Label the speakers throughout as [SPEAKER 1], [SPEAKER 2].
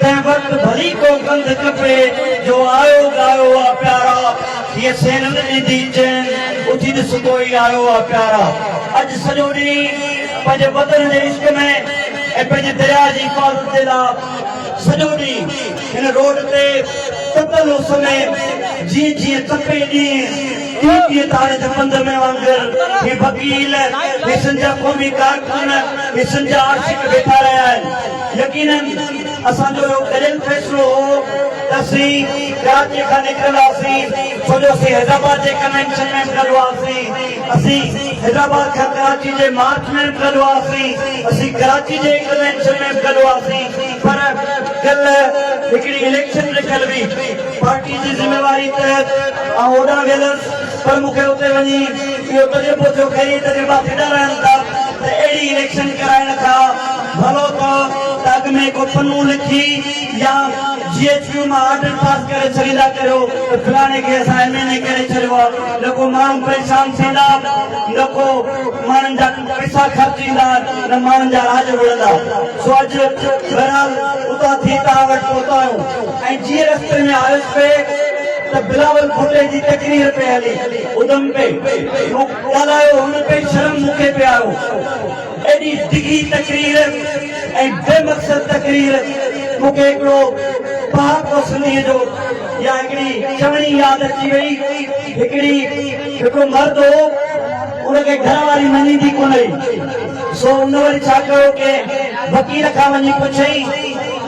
[SPEAKER 1] تنهن وقت ڀلي ڪو ڪنڌ ڪپي جو آيو ڳايو آ پيارا هيء سينن ڏيندي چين اٿي ڏس ڪوئي آيو آ پيارا اڄ سڄو ڏينهن پنهنجي وطن جي عشق ۾ ۽ پنهنجي درياء جي حفاظت جي لا سڄو ڏينهن هن روڊ تي تتل اس ۾ جيئن جيئن تپي ڏينهن تيئن تيئن تار جي پنڌ ۾ وانگر هي وڪيل هي سنڌ جا قومي ڪارڪن هي سنڌ جا عاشق بيٺا رهيا آهن. يقيناً اسان جو اهو ڳڙيل فيصلو هو ته اسين ڪراچي کان نڪرنداسين ڇو جو اسين حيدرآباد جي ڪنوينشن ۾ به گڏ هئاسين، اسين حيدرآباد کان ڪراچي جي مارچ ۾ به گڏ هئاسين، اسين ڪراچي جي ڪنوينشن ۾ به گڏ هئاسين پر ڪلهه هڪڙي اليڪشن رکيل هئي، پارٽي جي ذميواري تحت آئون هوڏانهن ويندس. پر مون کي اتي وڃي اهو تجربو ٿيو کي اهي تجربا ڦٽا رهن ٿا ته اهڙي اليڪشن ڪرائي نه ٿا ڀلو ته ته اڳ ۾ ڪو پنو لکي يا جي ايڇ ڪيو مان آرڊر پاس ڪري ڇڏيندا ڪريو ته فلاڻي کي اسان ايم اين اي ڪري ڇڏيو آ نه ڪو ماڻهو پريشان ٿيندا نه ڪو ماڻهن جا پئسا خرچ ٿيندا نه ماڻهن جا راڄ وڙهندا سو اڄ بهرحال اتان ٿي توهان وٽ پهتو آهيون ۽ جيئن رستي ۾ آيس پئي ته بلاول ڀٽي جي تقرير پئي هلي ادم پئي ٿيو ڳالهايو هن پئي شرم مون کي پئي آيو ايڏي ڊگهي تقرير ۽ بي مقصد تقرير مون کي هڪڙو پهاڪو سنڌي جو يا هڪڙي چوڻي ياد اچي وئي هڪڙي هڪڙو مرد هو ان کي گهر واري مڃيندي ڪونه هئي سو ان وري ڇا ڪيو ڪنهن وڪيل کان وڃي پڇيائين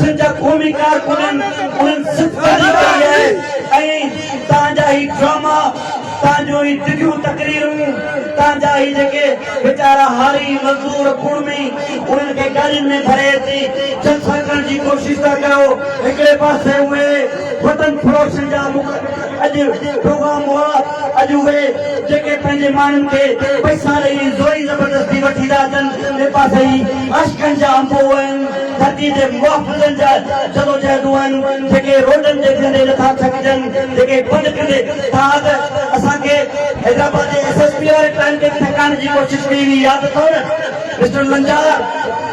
[SPEAKER 1] سنڌ جا قومي ڪارڪنن انهن صدقه جي ڪئي آهي ۽ توهان جا هي ڊراما، توهان جون هي ڊگهيون تقريرون، توهان جا هي جيڪي ويچارا هاري، مزدور، ڪڙمي انهن کي گاڏين ۾ ڀري اچي جلسا ڪرڻ جي ڪوشش ٿا ڪيو، هڪڙي پاسي اهي وطن فروشن جا اڄ پروگرام هئا، اڄ اهي جيڪي پنهنجي ماڻهن کي پئسا ڏئي زوري زبردستي وٺي ٿا اچن، ٻئي پاسي هي عاشقن جا انبوهه آهن، ڌرتي تي محافظن جا جدوجهدون آهن، جيڪي روڊن تي ڪندي نٿا ٿڪجن، جيڪي پنڌ ڪندي ٿا ته اسان کي حيدرآباد جي ايس ايس پي واري ٽائيم تي ٿڪائڻ جي ڪوشش ڪئي هئي ياد اٿئو نه مسٽر لنجار.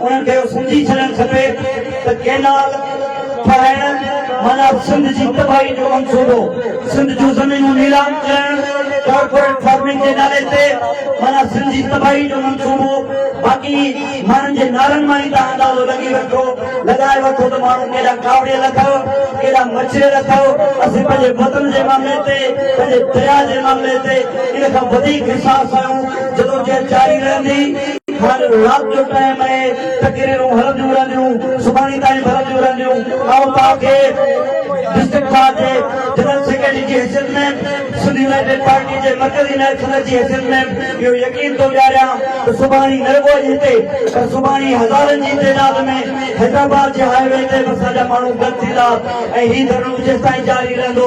[SPEAKER 1] انهن کي اهو سمجهي ڇڏڻ کپي ته ڪينال ٺاهڻ معنيٰ سنڌ جي تباهي جو منصوبو، سنڌ جون زمينون نيلام ڪرڻ ڪارپوريٽ فارمنگ جي نالي تي معنيٰ سنڌ جي تباهي جو منصوبو، باقي ماڻهن جي نعرن مان ئي توهان اندازو لڳي وٺو، لڳائي وٺو ته ماڻهو ڪيڏا ڪاوڙيل اٿئو، ڪيڏا مچريل اٿئو، اسين پنهنجي وطن جي معاملي تي، پنهنجي درياهه جي معاملي تي ان کان وڌيڪ حساس آهيون، جدوجهد جاري رهندي. هر رات جو ٽائيم اهي تقريرون هلنديون رهنديون سڀاڻي تائين به هلنديون رهنديون آئون توهان کي ڊسٽرڪٽ بار جي جنرل سيڪريٽري جي حيثيت ۾ سنڌ يونائيٽيڊ پارٽي جي مرڪزي نائب صدر جي حيثيت ۾ اهو يقين ٿو ڏياريان ته سڀاڻي نه رڳو اڄ هتي پر سڀاڻي هزارن جي تعداد ۾ حيدرآباد جي هاء وي تي به اسان جا ماڻهو گڏ ٿيندا ۽ هي ڌرڻو جيستائين جاري رهندو